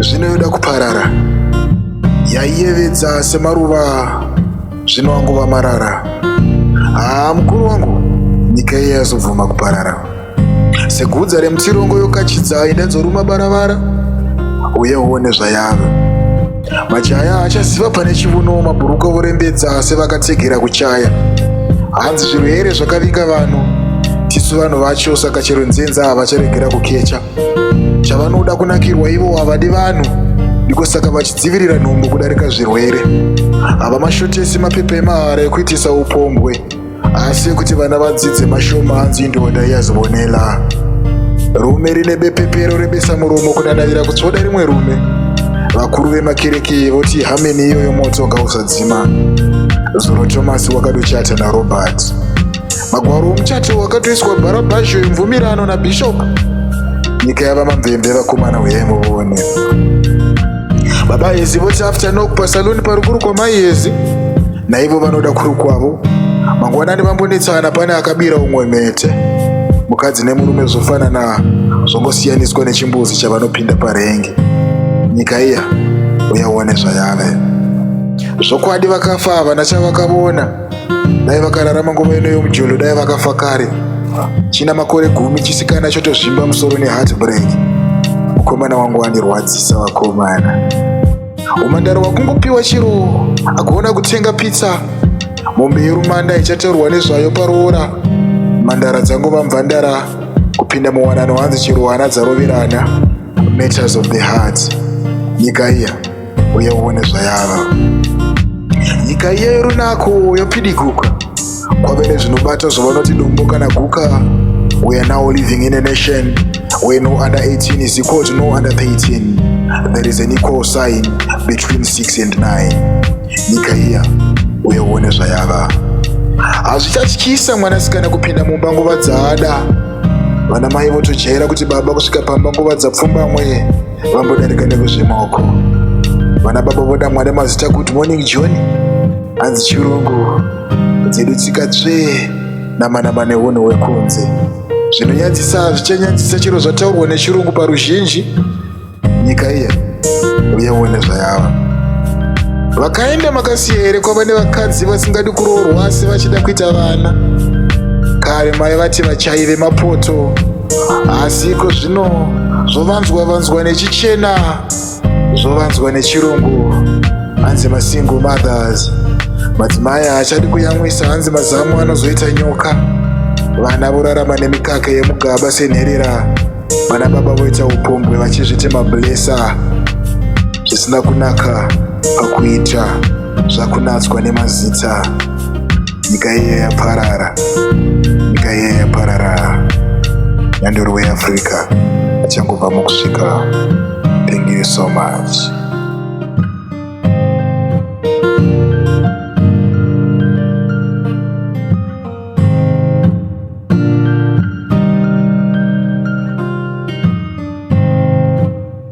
zvino yoda kuparara yaiyevedza semaruva zvino angova marara haa mukuru wangu nyika iye yazobvuma kuparara segudza remutsirongo yokachidza ida dzoruma baravara uye uone zvayava majaya achaziva pane chivuno mabhuruka vorembedza sevakatsegera kuchaya hanzi zvirwere zvakavinga vanhu tisu vanhu vacho saka chero nzenza havacharegera kukecha zvavanoda kunakirwa ivo havadi vanhu ndiko saka vachidzivirira nhumbu kudarika zvirwere hava mashotesi mapepa emahara ekuitisa upombwe asi ekuti vana vadzidze mashoma hanzi indoda iyazivonela rume rine bepepero rebesa muromo kudadavira kutsvoda rimwe rume vakuru vemakereke voti hameni iyoyo moto ngausadzima zuro thomas wakadochata narobert Magwaro omuchato wakatoiswa bharabhazho yemvumirano nabishop nyika yava mamvemve vakomana huyai muvone baba hezi voti after nok pasaloni parukuru kwamai hezi naivo vanoda kuri kwavo mangwanani vambonetsana pane akabira umwe mhete mukadzi nemurume zvofanana zvongosiyaniswa nechimbuzi chavanopinda parenge nyika iya uyaone zvayave zvokwadi vakafa havana chavakavona dai vakararama nguva ino yomujolo dai vakafa kare china makore gumi chisikana chotozvimba musoro neheartbreak mukomana wangu wandirwadzisa vakomana umandaro wakungopiwa chiro akuona kutenga pizza mombe yerumanda ichataurwa nezvayo paroora mandara dzangova mvandara kupinda muwanano hanzi chero hana dzaroverana matters of the heart nyika iya uye uone zvayava nyika iya yorunako yapidiguka kwave nezvinobata zvavanoti dombo kana guka we are now living in a nation where no under 18 is equal to no under 13 there is an equal sign between 6 and 9 nyika iya uye uone zvayava hazvichatyisa mwanasikana kupinda mumba nguva dzaada vana mai votojaira kuti baba kusvika pamba nguva dzapfumbamwe vambodarika nekuzvemaoko vana baba voda mwana mazita kuti morning john hanzi chirungu dzedu tsika tsvee namanama neunhu hwekunze zvinonyadzisa hazvichanyadzisa chero zvataurwa nechirungu paruzhinji nyika iya uye uone zvayava vakaenda makasiya here kwava nevakadzi vasingadi kuroorwa asi vachida kuita vana kare mai vati vachaive mapoto asi iko zvino zvovanzwa vanzwa nechichena zvovanzwa nechirungu hanzi masingle mothers madzimai haachadi kuyamwisa hanzi mazamu anozoita nyoka vana vorarama nemikaka yemugaba senherera vana baba voita upombwe vachizviti mablesa zvisina kunaka pakuita zvakunatswa nemazita nyika iye yaparara nyika iye yaparara nyandoro weafrica achangobva mukusvika thank you so much